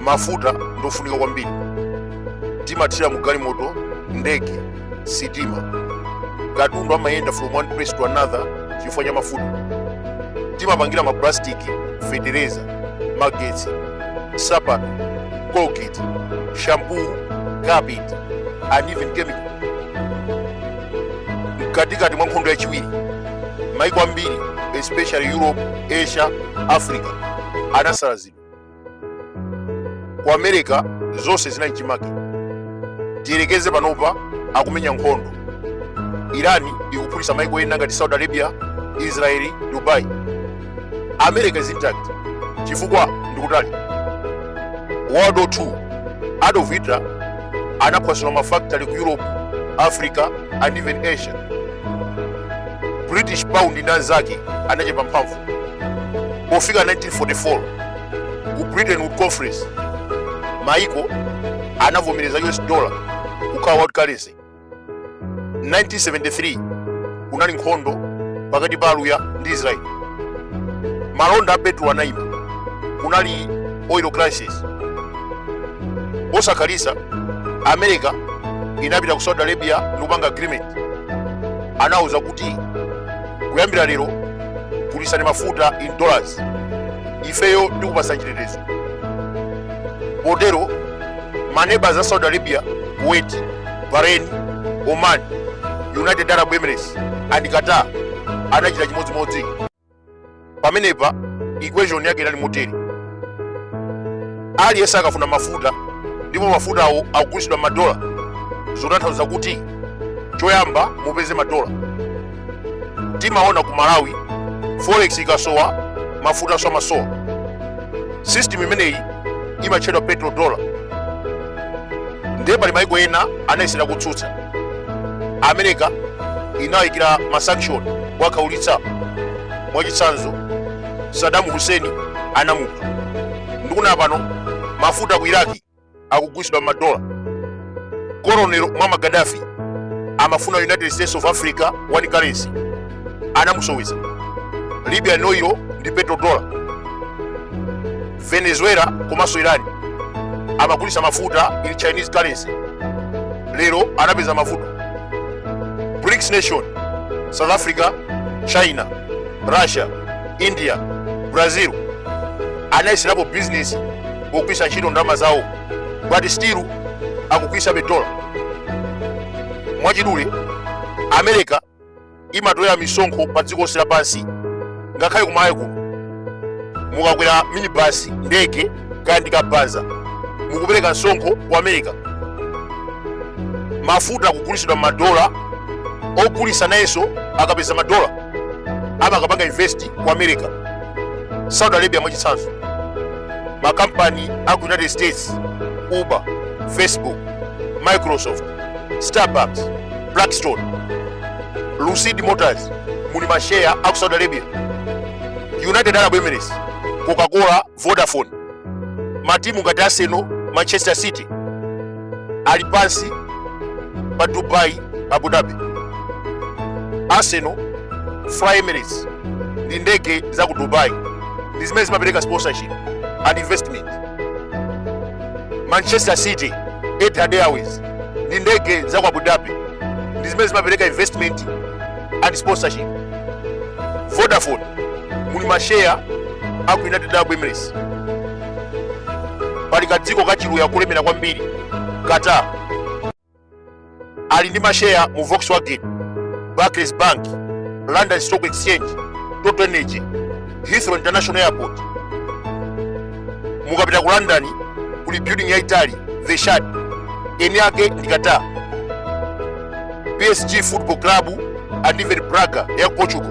mafuta ndi ofunika kwambiri timathira mu galimoto ndege sitima katundu amayenda from one place to another chifukwa cha mafuta timapangira maplastiki fetereza magetsi sapato colgate shampoo carpet and even chemicals mkatikati mwa nkhondo yachiwiri maiko ambiri especially europe asia africa anasalazidwa ku america zonse zinali chimake tiyerekeze panopa akumenya nkhondo irani ikuphulitsa maiko ena ngati saudi arabia israeli dubai america is intact chifukwa ndikutali world war 2 adolf hitler anaphwasula mafactory ku europe africa and even asia british pound ndi anzake anachepa mphamvu pofika 1944 ku bretton woods conference maiko anavomereza us dollar kukhala world currency 1973 kunali nkhondo pakati pa aluya ndi israeli malonda a petro anayima kunali oil crisis posakhalitsa america inapita ku saudi arabia ndikupanga agreement anawuza kuti kuyambira lero gulitsani mafuta in dollars ifeyo tikupatsani chitetezo potero maneba a saudi arabia kuwait bahrain oman united arab emirates and qatar anachita chimodzimodzi pamenepa equation yake inali motere aliyense akufuna mafuta ndipo mafutawo akugulitsidwa m'madola zotanthauza kuti choyamba mupeze madola timaona ku malawi forex ikasowa mafuta nso amasowa system imeneyi imatchedwa petro dollar ndiye pali maiko ena anayesera kutsutsa america inayikira masanction owakhaulitsa mwachitsanzo saddam hussein anamupha ndikunena pano mafuta ku iraki akugulitsidwa m'madola colonel muammar gaddafi amafuna united states of africa one currency anamusoweza libya inoyo ndi petro dollar venezuela komanso irani amagulitsa mafuta in chinese currency lero anapeza mavuto brics nation south africa china russia india brazil anayeserapo business pogwiritsa ntchito ndalama zawo but still akugwiritsabe dola mwachidule america imatolera misonkho pa dziko lonse lapansi ngakhale kumalawi kuno mukakwera minibasi ndege kaya ndi kabaza mukupereka msonkho ku america mafuta akugulitsidwa madola ogulitsa nayenso akapeza madola amakapanga invest ku america saudi arabia mwachitsanzo makampani a ku united states uber facebook microsoft starbucks blackstone lucid motors muli masheya a ku saudi arabia united arab emirates coca-cola vodafone matimu ngati arsenal manchester city ali pansi pa dubai abu dhabi arsenal fly emirates ndi ndege za ku dubai ndi zimene zimapereka sponsorship and investment manchester city etihad airways ndi ndege za ku abu dhabi ndi zimene zimapereka investment and sponsorship vodafone muli masheya aku united arab emirates pali kadziko kachiluya kulemera kwambiri qatar ali ndi masheya mu volkswagen barclays bank london stock exchange total energy heathrow international airport mukapita ku london kuli building yaitali the shard eni ake ndi qatar psg football club and even braga ya portugal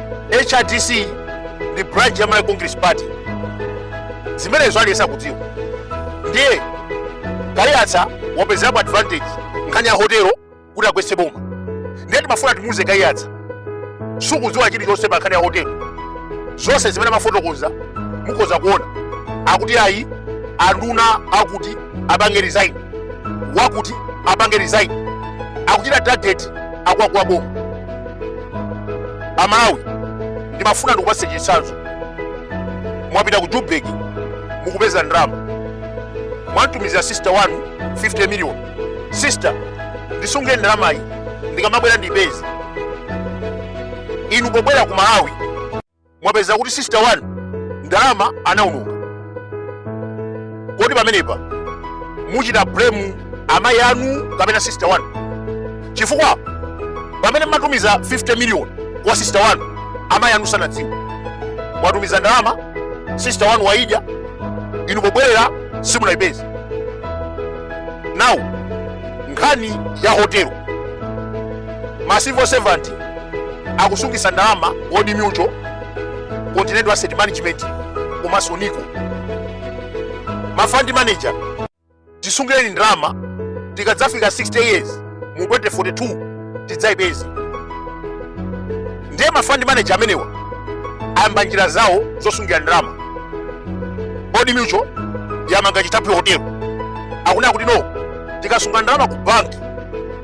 hrdc ndi branch ya malawi congress party zimenezo aliyense akudziwa ndiye kaiyatsa wapezerapo advantage nkhani ya hotelo kuti agwetse boma ndiye timafuna timuuze kaiyatsa sukudziwa chilichonse pa nkhani ya hotelo zonse zimene amafotokoza mukhoza kuona akuti ayi anduna akuti apange resign wakuti apange resign akuchita target akuluakulu a boma amalawi ndimafuna ndikupatseni chitsanzo mwapita ku joburg mukupeza ndalama mwamtumizira sister wanu 50 million sister ndisungire ndalamayi ndikamabwera ndipeze inu pobwera ku malawi mwapeza kuti sister wanu ndalama anaononga kodi pamenepa muchita blame amayi anu kapena sister wanu chifukwa pamene mmatumiza 50 million kwa sister wanu amayi anu sanadziwe mwatumiza ndalama sister wanu waidya inu pobwerera simunayipeze now nkhani ya hotelo ma civil servant akusungisa ndalama Old Mutual continental asset management komanso nico ma fund manager tisungireni ndalama tikadzafika 60 years mu 2042 tidzayipeze ndiye ma fund manager amenewa ayamba njira zawo zosungira ndalama Old Mutual yamanga chithaphwi hotelo akunena kuti no tikasunga ndalama ku banki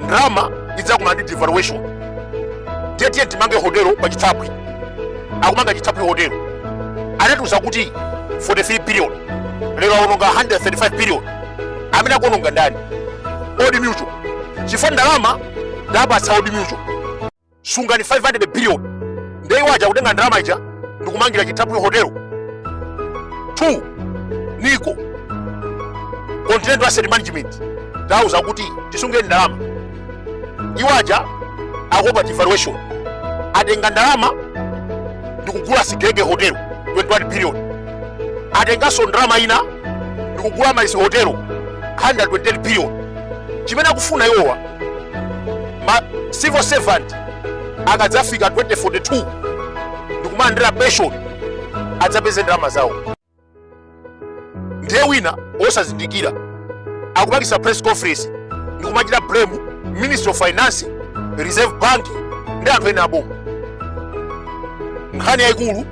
ndalama idzakumana ndi devaluation ndiye tiyeni timange hotelo pa chithaphwi akumanga chithaphwi hotelo anatiuza kuti 43 billion lero awononga 135 billion amene akuononga ndani Old Mutual chifukwa ndalama tapatsa Old Mutual sungani 500 billion nde iwo aja kutenga ndalama ija ndikumangira chithaphwi hotel 2 nico continental asset management tauza kuti tisungireni ndalama iwo aja akuopa devaluation atenga ndalama ndikugula sigege hotel 21 billion atenganso ndalama ina ndikugula Amaryllis hotel 120 billion chimene akufuna iwowa ma civil servant akadzafika 2042 ndikumalandira pension adzapeze ndalama zawo ndiye wina wosazindikira akupangisa press conference ndikumachita blame ministry of finance reserve bank ndi anthu ena aboma nkhani yayikulu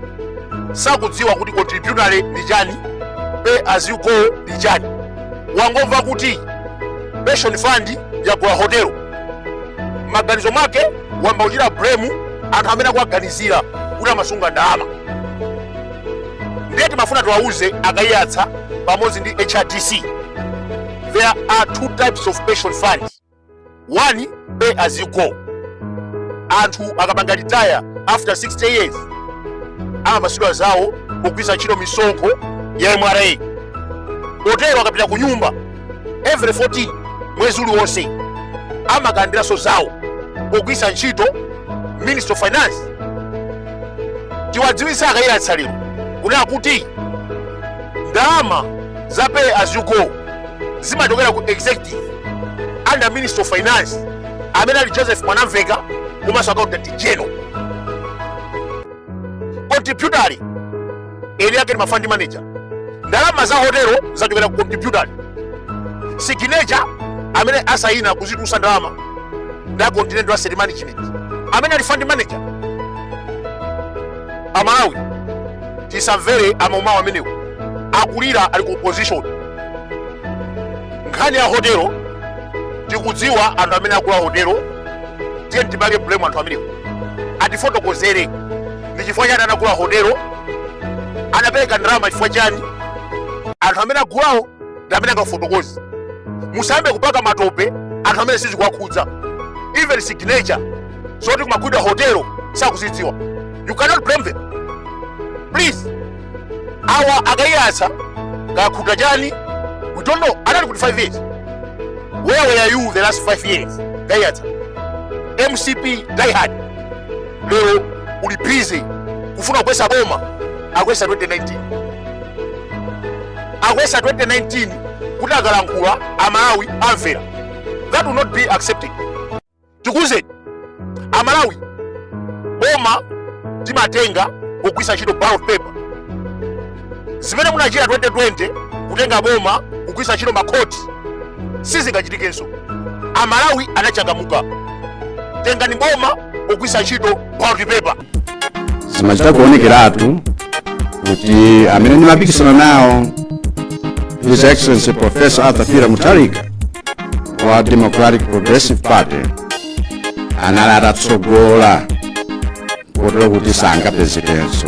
sakudziwa kuti contributory ndi chani pay as you go ndi chani wangomva kuti pension fund yagula hotelo maganizo mwake wayamba kuchita blame anthu amene akuwaganizira kuti amasunga ndalama ndiye timafuna tiwauze a Kaiyatsa pamodzi ndi hrdc there are two types of pension fund one pay as you go anthu akapanga retire after 60 years amapatsidwa zawo kugwiritsa ntchito misonkho ya mra potero akapita ku nyumba every 14 mwezi uliwonse amakalandiranso zawo pogwiritsa ntchito ministry of finance tiwadziwitse a Kaiyatsa lero kunena kuti ndalama za pay as you go zimachokera ku executive under ministry of finance amene ali joseph mwanamveka komanso accountant general contributory eni yake ni ma fund manager ndalama za hotelo zachokera ku contributory signature amene asayina kuzitusa ndalama ndi a continental asset management amene ali fund manager amalawi tisamvere amaumawo amenewo akulira ali ku opposition nkhani ya hotelo tikudziwa anthu amene agula hotelo tiyeni tipange blame anthu amenewo atifotokozere ndi chifukwa chani anagula hotelo anapereka ndalama chifukwa chani anthu amene agulawo ndi amene angafotokoze musayambe kupaka matope anthu amene sizikuwakhudza even signature zoti kumagulidwa hotelo sakuzidziwa you cannot blame them please awa akaiyatsa akhuta chani we don't know anali kuti 5 years where were you the last 5 years kaiyatsa mcp diehard lero uli busy kufuna kugwetsa boma akuyesa 2019 akuyesa 2019 kuti akalankhula amalawi amvera that will not be accepted tikuuzeni amalawi boma timatenga kugwisa ntchito ballot paper zimene munachita 2020 kutenga boma kugwisa ntchito makhoti sizingachitikenso amalawi anachangamuka tengani boma kugwisa ntchito ballot paper zimachita kuonekeratu kuti amene ndimapikisana nawo his excellency professor arthur peter mutharika wa democratic progressive party anali atatsogola kotero kuti sangapezekenso